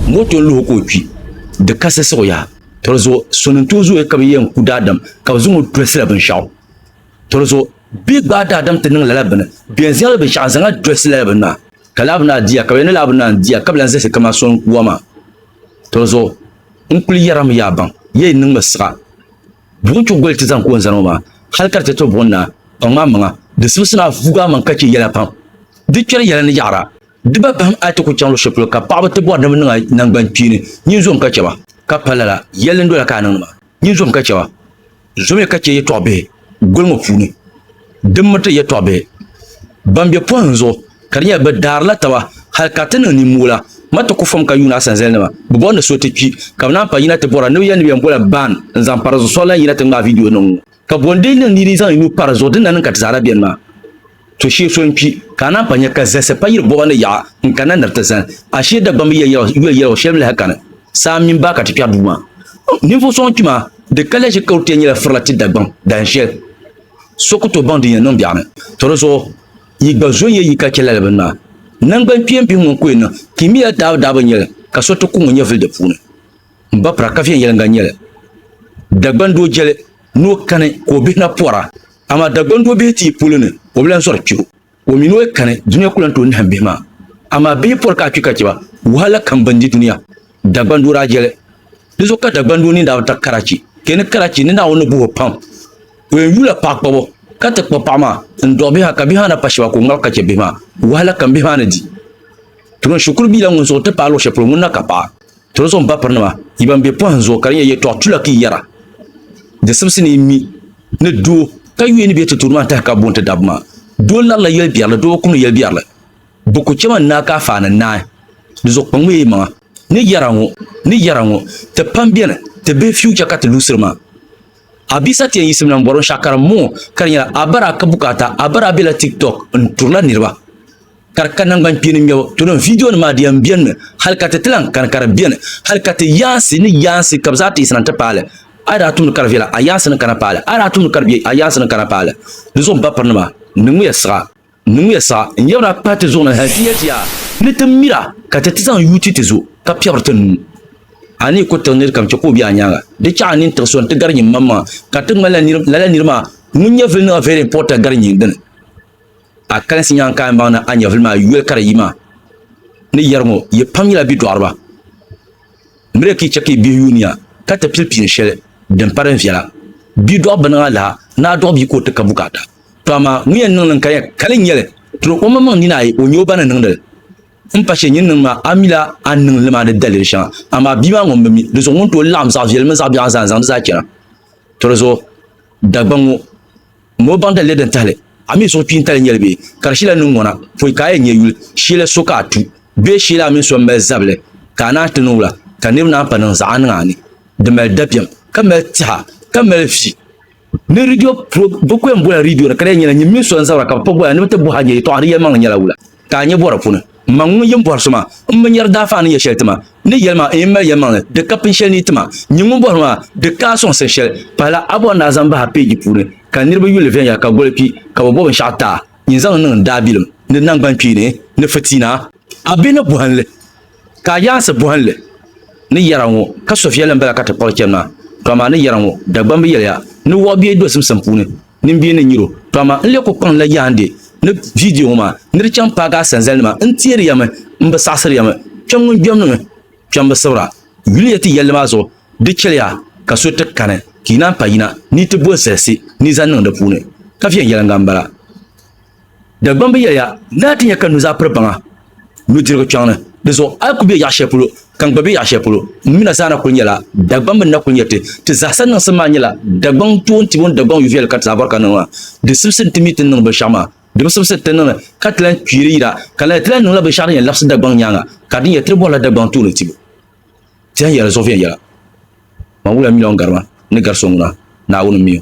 moto n luhi ka o kpi di kasi siɣiya to zuɣu sonim tuhi zooya ka bi yɛn ku daadam ka bi zaŋɔ dolsila binshaɣu to zuɣu bee gbaai daadam ti niŋ lala bini bɛn zali binshaɣu zaŋna dosi lala bini maa ka laa bi naa diya ka bi yɛli ni laa bi naa n diya ka bi lahi zalisi kamani so n ku wa maa to zuɣu n kuli yɛrimi yaa baŋ yee yi niŋmi siɣa buɣum chuɣu goli ti zaŋ ka o ni zani ŋɔ maa hali ka di ti to buɣum na kpaŋ maa maŋa di sibisi ni a vuugi a maŋ ka chɛ yɛla pam di kpɛri yɛla ni yaɣara Diba bahim a yi ti kul chaŋ luɣ'shɛli polo ka paɣiba ti bɔri ni bɛ niŋ a naŋgbankpiini, nyin zom ka chɛ ba. Ka pa lala, yɛli n dola ka a niŋdi maa, nyin zom ka chɛ ba. Zomiya ka chɛ yɛtɔɣ bihi goli ŋɔ puuni din miriti yɛtɔɣ bihi bɛn be pɔhim zuɣu, ka di nyɛla bɛ daarila taba hal ka ti niŋ nimmoola ma ti ku fom ka yuuni a sanzalinima. Bɛ bɔri ni so ti kpi, ka bɛ naan pa yina ti bɔra ni bɛ yɛli ni bɛ yɛn bola ban n-zaŋ pa di zuɣu soŋ la n-yina ti ŋmaai viidiyo niŋ ŋɔ. Ka bɔ n-lee niŋ ni yi dii zaŋ yi nuu pa di zuɣu, di ni na niŋ ka ti zaa na beni maa? To shee so n-kpi, ka a naan pa nya ka zahisi pa yiri bɔɣa ni yaɣa n-kani na nir ti zani a shee Dagbamba yiya yɛligu shɛli n-lahi kani saa mini baa ka ti kpɛri duu maa. Ninvuɣ so ŋun kpi maa, di kaliya ʒi Karutia nyɛla firila ti Dagbam dahin shɛli so ku tooi baŋ din yɛn niŋ biɛɣu ni. To di zuɣu yi gba zo n-yɛ yi ka chɛ lala bini maa. Naŋgban kpeem bihi ŋun ku yɛn niŋ kimiya daabu daabu n-nyɛli ka so ti ku ŋun yɛn vili di puuni. M ba pira ka viɛnyɛliŋga n-nyɛli. Dagbandoo jɛli ni o kani ka o bihi na pɔra Amaa Dagbaŋ do bihi tii polo ni, o bi lan sɔri kpe o. O mi ni o yi kani, dunia ku lan tooi nahim bihi maa. Amaa bihi pɔri ka a kpi ka chɛ ba, wahala kam bɛn di dunia. Dagbaŋ do daa jɛli. Di zuɣu ka Dagbaŋ do nini daa bi ta Karachi. Ka yi ni Karachi, ni Naawuni ni buhi o pam. O yɛn yuula paɣa kpabo, ka ti kpa paɣa maa, n-dɔɣi bihi maa, ka bihi maa na pa shɛba ka o ŋmabi ka chɛ bihi maa. Wahala kam bihi maa ni di. Turin shikuru bia la ŋun suhu ti paai luɣ shɛli polo, ŋuni na ka paɣa? Tolozom bapirinima, yi ban be pɔhim zuɣu ka di nyɛ yɛtɔɣ tulaki yɛra, di simsi ni yi mi ni doo ka yuui ni bɛ ti tuuri maa n-tahi ka booni ti dabba maa. Doo larila yɛlbiɛrili, doo bi kumdi yɛlbiɛrili. Bɛ ku chɛma n-naai ka a faai ni naai. Di zuɣu kpaŋmiya yi maŋa ni yɛra ŋɔ ni yɛra ŋɔ, ti pam beni, ti bihi future ka ti luɣisiri maa. A bia Satien yiɣisimi na m-bɔri o shɛh karim m-bɔŋɔ ka di nyɛla a bara ka bukaata a bara bela Tik Tok n-turila niriba. ka di ka nangbani kpeeni ŋmɛbu tolo viidiyonima maa di yɛn benimi hali ka ti ti lahi kani ka di beni hali ka ti yaansi ni yaansi ka bɛ zaa ti yiɣisina nti paali a yi daa tumdi ka di viɛla a yaansi ni kana paali a yi daa tumdi ka di bɛ a yaansi ni kana paali di zuɣu bapirinima niŋmiya siɣa niŋmiya siɣa n-yabiri a pahi ti zuɣu ni hali ti nya ti yaa ni ti mira ka ti ti zaŋ yuui ti ti zuɣu ka piɛbiri ti nuu a ni yi ku tiɣi nirikam chɛ ka o be a nyaaŋa di chaɣ a nini tiɣi so nti gari nyini maŋmaŋa ka ti ŋmanila lala niri maa ŋun nyɛ viliniɣa very important gari nyini dini. A kalinsi nyaŋ ka a yɛn baŋ ni a nyɛvili maa yoli ka di yi maa ni yɛri ŋɔ, Yi pam nyɛla bidɔɣiriba. M mi di ka yi chɛ ka yi bihi yuun ya ka ti pili piini shɛli din pa din viɛla. Bidɔɣi biniŋ alaha ni a dɔɣi bia ka o ti ka bukaata. Tɔ amaa ŋun yɛn niŋ li n-kali ya kali n-nyɛ li, tiri o maŋmaŋ nini ayi o nyɛ o ba ni niŋdi li. M pa shɛli nyin niŋ maa, a mila a ni niŋ li maa ni daliri shɛŋa, amaa bia maa ŋun bi mi, dizuɣu ŋun tooi laɣim zaɣ viɛli mini zaɣ biɛɣu zaa n-zaŋdi zaa chana. Tɔ di zuɣu Dagbaŋ ŋɔ. Ŋun bi baŋ dalili din tahili a mi suhu kpiintali nyɛli bee, ka di shila niŋ ŋɔ na pɔi ka a yɛn nya yuli shɛli so ka a tu bee shɛli a mini so m-mali zabili ka a naan ti niŋ wula ka niriba naan pa niŋ zaɣa niŋ a ni di mali dabiɛm ka mali tɛha ka mali vi ni ridio pro bɛ kuyani bola ridio ni ka di yɛn nyɛla nyin mini so n-zabira ka bɛ pa bola ni bɛ ti bɔhi a ni yɛltɔɣa di yɛlimaŋli nyɛla wula. ka a nya bɔri puni. Mmaŋ ŋun yin bɔri so maa, m bi nyari daafaa ni yɛ shɛli ti ma, ni yɛli ma n yin mali yɛlimaŋli di ka pini shɛli ni yi ti ma. Nyin ŋun bɔri maa, di ka a sɔŋsim shɛli. Pahila a bɔri ni a zaŋm bahi a peeji puuni, ka niriba yuli viɛnyɛla ka goli kpi, ka bɛ bɔ binshɛɣu ti a, nyin zaŋ li niŋ n daabilim ni naŋgbankpeeni ni fitiina. A bihi ni bɔhindi ka a yaansi bɔhindi ni yɛra ŋɔ ka so viɛlli m-bala ka ti kpuɣi chani maa, to amaa ni yɛra ŋɔ Dagbamba yɛliya ni wɔɣu bie dozim simpuuni. Nin bia ni nyiro pam maa n lee ku kpaŋ la yaandi ni vidio ŋɔ maa ni di chaŋ paagi a sanzali nima n teeri ya mi n bi saɣisiri ya mi kpɛm ŋun gbɛm niŋ kpɛm bi sibira yuli ya ti yɛlli maa zuɣu di chɛliya ka so ti kani ka yi naan pa yina ni yi ti bo zalisi ni yi zaŋ niŋ di puuni ka viɛnyɛliŋga n bala. Dagbaŋ bi yɛliya ni a ti nya ka nuzaa piri baŋa nudirigu kpiɔŋ ni, di zuɣu a ku be yaɣ shɛli polo ka n gba be yaɣ shɛli polo. M mi na zaa na kul nyɛla Dagbaŋ bɛ ni na kul nyɛ ti. Ti zaa sa niŋsim maa nyɛla Dagbaŋ toon ti bo ni Dagbaŋ yuviɛli ka ti zaa bɔri ka niŋ maa. Di simsi ni ti mi ti ni niŋ binshɛɣu maa. Di bi simsi ni ti niŋli ka ti lan kpiiri yira ka lala ti lan niŋla binshɛɣu din yɛn labisi Dagbaŋ nyaaŋa ka di ni nyɛ ti ni bɔrila Dagbaŋ tooni ti bo. Ti yɛn yɛli zuɣu viɛnyɛla, Man wuliya miliɔn garima ni gari so ŋuna, Naawuni m-mi o.